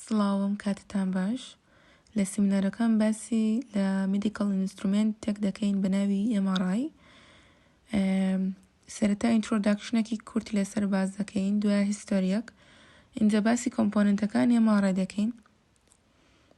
سڵاوم کاتتان باش لە سیمینارەکان باسی لە میدیکەڵ ئینسترومێنت تێک دەکەین بە ناوی MRI سەرەتا ئینترۆداکشنەکی کورت لەسەر باز دەکەین دوای هیستۆریەک اینجا باسی کۆمپۆننتەکانی MRI دەکەین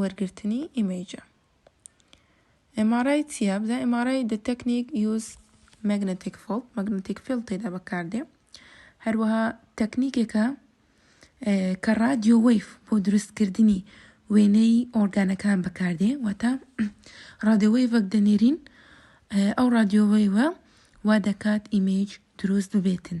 وەرگرتنی ئیمەیجە. MRI چیە؟ بزان MRI the technique use magnetic field magnetic field تێدا بەکاردێ هەروەها تەکنیکێکە کە رادیۆ وەیف بۆ دروستکردنی وێنەی ئۆرگانەکان بەکاردێ واتە رادیۆوەیڤەک دەنێرین ئەو رادیۆوەیوە وا دەکات ئیمەیج دروست ببێتن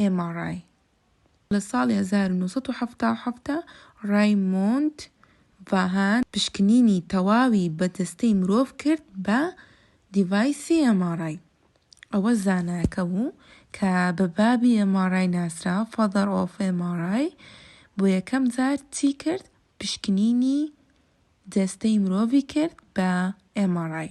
ئێما ڕای لە ساڵی هەزار و نۆ سەد و حەفتا و حەفتا ڕایمۆند ڤاهان پشکنینی تەواوی بە جەستەی مرۆڤ کرد بە دیڤایسی ئێما ڕای. ئەوە زانایەکە بوو کە بە بابی ئێما ڕای ناسرا، Father of MRI، بۆ یەکەم جار چی کرد؟ پشکنینی جەستەی مرۆڤی کرد بە ئێما ڕای.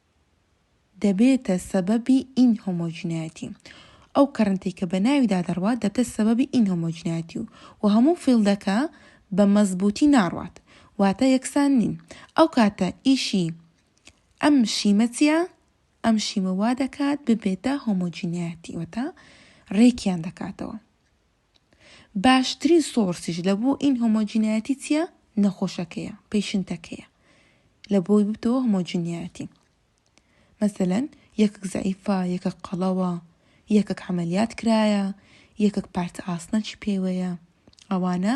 دەبێتە سەبەبی ئینهۆمۆجینایەتی. ئەو کەرەنتەی کە بە ناویدا دەڕوات دەبتە سەبەبی ئینهۆمۆجینایەتی و و هەموو فیڵدەکە بە مەزبووتی ناڕوات واتە یەکسان نین. ئەو کاتە ئیشی ئەم شیمە چیە؟ ئەم شیمە وا دەکات ببێتە هۆمۆجینایەتی وەتا رێکیان دەکاتەوە. باشترین سۆرسیش لە بۆ ئین هۆمۆجینایەتی چیە؟ نەخۆشەکەیە، پەیشنتەکەیە لە بۆی ببتەوە هۆمۆجینایەتی. مەسەلەن یەکەک زەعیفە، یەکەک قەڵەوە، یەکەک عملیات کرایە، یەکەک پارچە ئاسنەکی پێوەیە. ئەوانە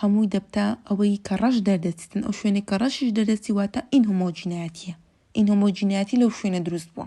هەمووی دەبتە ئەوەی کە ڕەش دەردەچێتن، ئەو شوێنێک کە ڕەشیش دەردەچی واتە ئین هۆمۆجینایەتیە. ئین هۆمۆجینایەتی لەو شوێنە دروست بووە.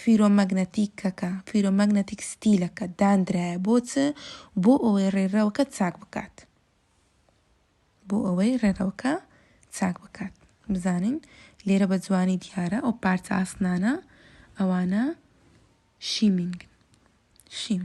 فیرۆمەگنەتیکەکە، فیرۆمەگنەتیک ستیلەکە، داندرایە بۆ چ؟ بۆ ئەوەی ڕێرەوەکە چاک بکات. بۆ ئەوەی ڕێرەوەکە چاک بکات. بزانین لێرە بە جوانی دیارە ئەو پارچە ئاسنانە ئەوانە شیمینگن. شیم.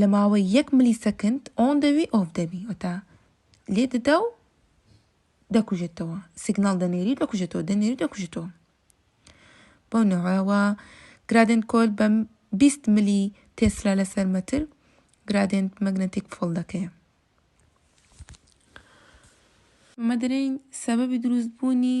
لە ماوەی یەک ملی سەکند ئۆن دەبی ئۆف دەبی وەتا لێ دەدا و دەکوژێتەوە سیگناڵ دەنێری دەکوژێتەوە دەنێری دەکوژێتەوە بەو نەوەوە گرادێن کۆل بەم 20 ملی تێسرا لەسەر مەتر گرادێن مەگنەتیک فۆڵ دەکەیە مەدرین سەبەبی دروستبوونی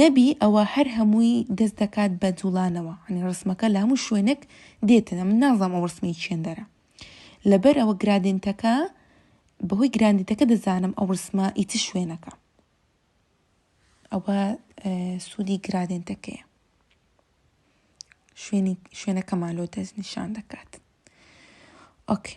نەبی ئەوە هەر هەمووی دەست دەکات بە جوڵانەوە یانی ڕسمەکە لە هەموو شوێنێک دێتە من نازام ئەو ڕسمی چێندەرە لەبەر ئەوە گرادێنتەکە بەهۆی گراندیتەکە دەزانم ئەو ڕسمە ئی چ شوێنەکە ئەوە سوودی گرادێنتەکەیە شوێنی شوێنەکەمان لۆ دەست نیشان دەکات ئۆکێ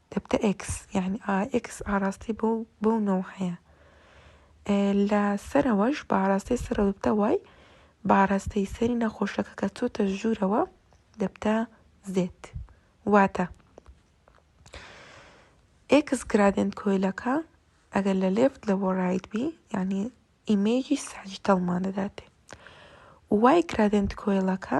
دەبتە ئێکس یعنی ئا ئێکس ئاڕاستەی بۆ بۆ نەوە هەیە لە سەرەوەش بە ئاراستەی سەرەوە دەبتە وای بە ئاراستەی سەری نەخۆشەکە کە چۆتە ژوورەوە دەبتە زێت واتە ئێکس گرادێنت کۆیلەکە ئەگەر لە لێفت لە وەڕایت بی یعنی ئیمێجی ساجیتەڵمان دەداتێ وای گرادێنت کۆیلەکە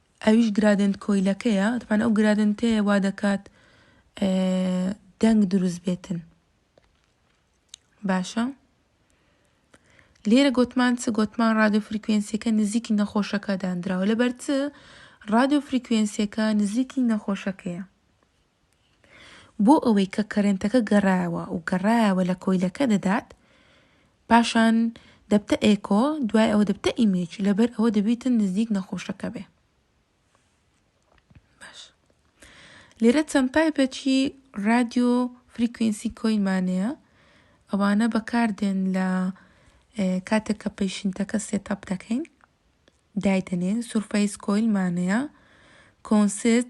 ئەویش گرادێنت کۆیلەکەیە تەبعەن ئەو گرادێنتەیە وا دەکات دەنگ دروست بێتن باشە لێرە گوتمان چ گوتمان رادیۆ فریکوێنسیەکە نزیکی نەخۆشەکە دانراوە لەبەر چ رادیۆ فریکوێنسیەکە نزیکی نەخۆشەکەیە بۆ ئەوەی کە کەرێنتەکە گەڕایەوە و گەڕایەوە لە کۆیلەکە دەدات پاشان دەبتە ئێکۆ دوای ئەوە دەبتە ئیمیج لەبەر ئەوە دەبیتن نزیک نەخۆشەکە بێ باش لێرە چەند تایپێکی رادیۆ فریکوینسی کۆینمانەیە ئەوانە بەکاردێن لە کاتێک کە پەیشنتەکە سێتاپ دەکەین دایدەنێن سورفەیس کۆیلمانەیە کۆنسرت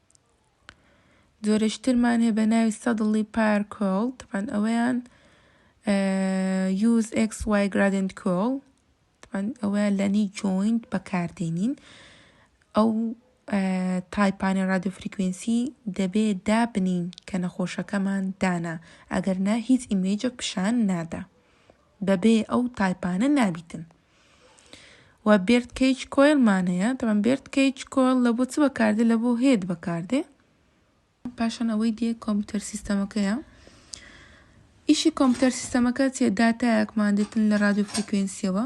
جۆرێکی ترمان هەیە بە ناوی سەدڵی پار کۆڵ تەبان ئەوەیان یوز ئەکس وای گرادنت کۆڵ تەبان ئەوەیان لە نی جۆینت بەکاردێنین ئەو تایپانە رادیو فریکوێنسی دەبێ دابنین کە نەخۆشەکەمان دانا ئەگەر نا هیچ ئیمێجێک پیشان نادا بەبێ ئەو تایپانە نابیتن. و بێرت کەیچ کۆیڵ مان هەیە تەبەن بێرت کەیچ کۆیڵ لە بۆ چ بەکاردێ لە بۆ هێت بەکاردێ پاشان ئەوەی دێ کۆمپیوتەر سیستەمەکەیە ئیشی کۆمپیوتەر سیستەمەکە چێ داتایەکمان دێتن لە رادیو فریکوێنسیەوە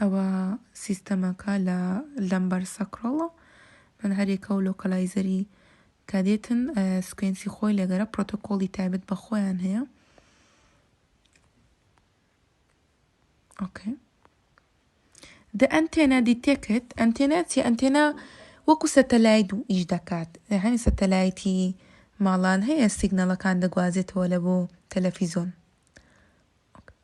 ئەوە سیستەمەکە لە لەمبەر سەکڕەڵە من هەرێکە و لۆکەلایزەری کە دێتن سکوێنسی خۆی لەگەرە پرۆتۆکۆڵی تایبەت بە خۆیان هەیە ئۆکەی دە ئەنتێنا دیتێکت ئەنتێنا چی ئەنتێنا وەکو سەتەلایت و ئیش دەکات هەمی سەتەلایتی ماڵان هەیە سیگنەڵەکان دەگوازێتەوە لە بۆ تەلەفیزۆن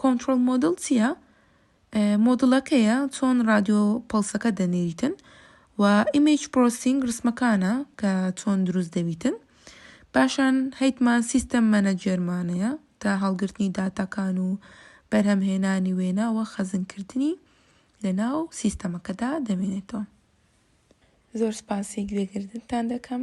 کۆنتڕۆڵ مۆدڵ چیە؟ مۆدڵەکەیە چۆن ڕادیۆ پەڵسەکە دەنێریتن و ئیمەیج پرۆسینگ ڕسمەکانە کە چۆن دروست دەبیتن پاشان هەیتمان سیستەم مەنەجێرمانەیە تا هەڵگرتنی داتاکان و بەرهەمهێنانی وێنا و خەزنکردنی لەناو سیستەمەکەدا دەمێنێتەوە زۆر سپاسی گوێگردنتان دەکەم.